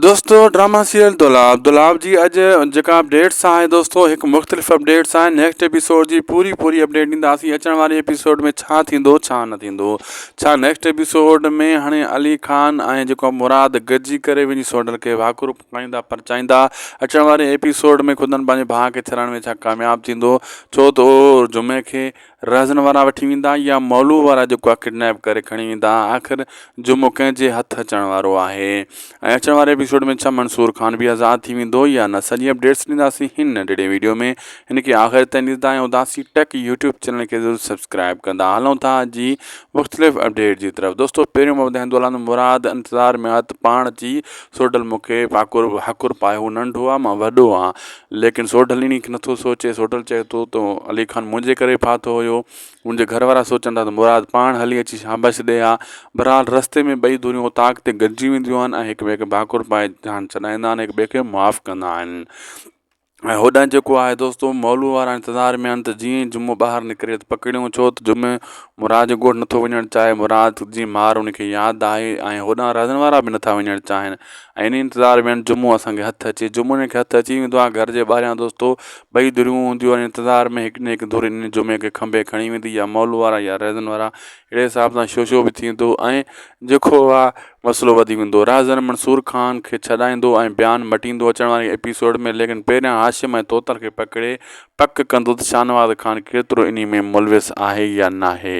دوستو drama serial Dolab Dolab جي اڄ جيڪا اپڊيٽس آهي دوستو هڪ مختلف اپڊيٽس آهي نيڪسٽ ايپيسوڊ جي پوري پوري اپڊيٽ ڏينداسين اچڻ واري ايپيسوڊ ۾ ڇا ٿيندو ڇا نه ٿيندو ڇا نيڪسٽ ايپيسوڊ ۾ هاڻي علي خان ۽ جيڪو مراد گڏجي ڪري وڃي سوڍل کي واکرو پڪائيندا پرچائيندا اچڻ واري ايپيسوڊ ۾ خدن پنهنجي ڀاء کي ڇڏڻ ۾ ڇا ڪامياب ٿيندو ڇو ته اهو جمعي کي رهزن وارا وٺي ويندا يا مولوء وارا جيڪو آهي ڪڊنيپ ڪري کڻي ويندا آخر جمو ڪنهن جي هٿ اچڻ وارو آهي ۽ اچڻ واري ايپيسوڊ ۾ ڇا منصور خان به آزاد ٿي ويندو يا نه سڄي اپڊيٽس ڏينداسين هن ننڍڙي ويڊيو ۾ هن کي آخر تائين ڏسندا ۽ اداسي ٽيڪ يوٽيوب چينل کي ضرور سبسڪرائب ڪندا هلون ٿا اڄ جي مختلف اپڊيٽ جي طرف دوستو پهريون محمد هندولان مراد انتظار ميات پاڻ چي سوڊل مون کي پاڪور حقور پايو هو ننڍو آ مان وڏو آ ليڪن سوڍل انهي کي نٿو سوچي، سوڍل چئي ٿو ته علي خان منهنجي ڪري ڦاٿو هيو، هن جي گهر وارا سوچن ٿا ته مراد پاڻ هلي اچي شاباشي ڏئي ها، بهرحال رستي ۾ ٻئي ڌريون اوطاق تي گڏجي وينديون آهن ۽ هڪ ٻئي کي ڀاڪر پائي جان ڇڏائيندا آهن هڪ ٻئي کي معاف ڪندا آهن ۽ هوڏانهن جيڪو آهي دوستو مئلو وارا انتظار ۾ آهن ته جيئن ئي جمعو ٻاهر نڪري ته پڪڙيون ڇو ته جمعي مراد جي ڳوٺ نٿو وڃڻ چاهي مراد جي مار ان کي ياد آهي ۽ هوڏانهن رازن وارا به نٿا وڃڻ چاهين ۽ انهي انتظار ۾ جمعو اسان کي هٿ اچي جمعو جنهن کي هٿ اچي ويندو آهي گهر جي ٻاهريان دوستو ٻئي ڌريون هونديون آهن انتظار ۾ هڪ نه هڪ ڌر انهي جمعي کي کنڀي کڻي ويندي يا مال وارا يا رهزن وارا اهڙي حساب سان شو شو به ٿيندو ۽ جيڪو اها مسئلو وڌي ويندو رهزن منصور خان کي ڇڏائيندو ۽ بيان مٽيندو اچڻ واري ايپيسوڊ ۾ ليڪن پهريان هاشم ۽ طوطن کي پڪڙي پڪ ڪندو ته شاهنواز خان ڪيترو انهي ۾ ملوث آهي يا ناهي.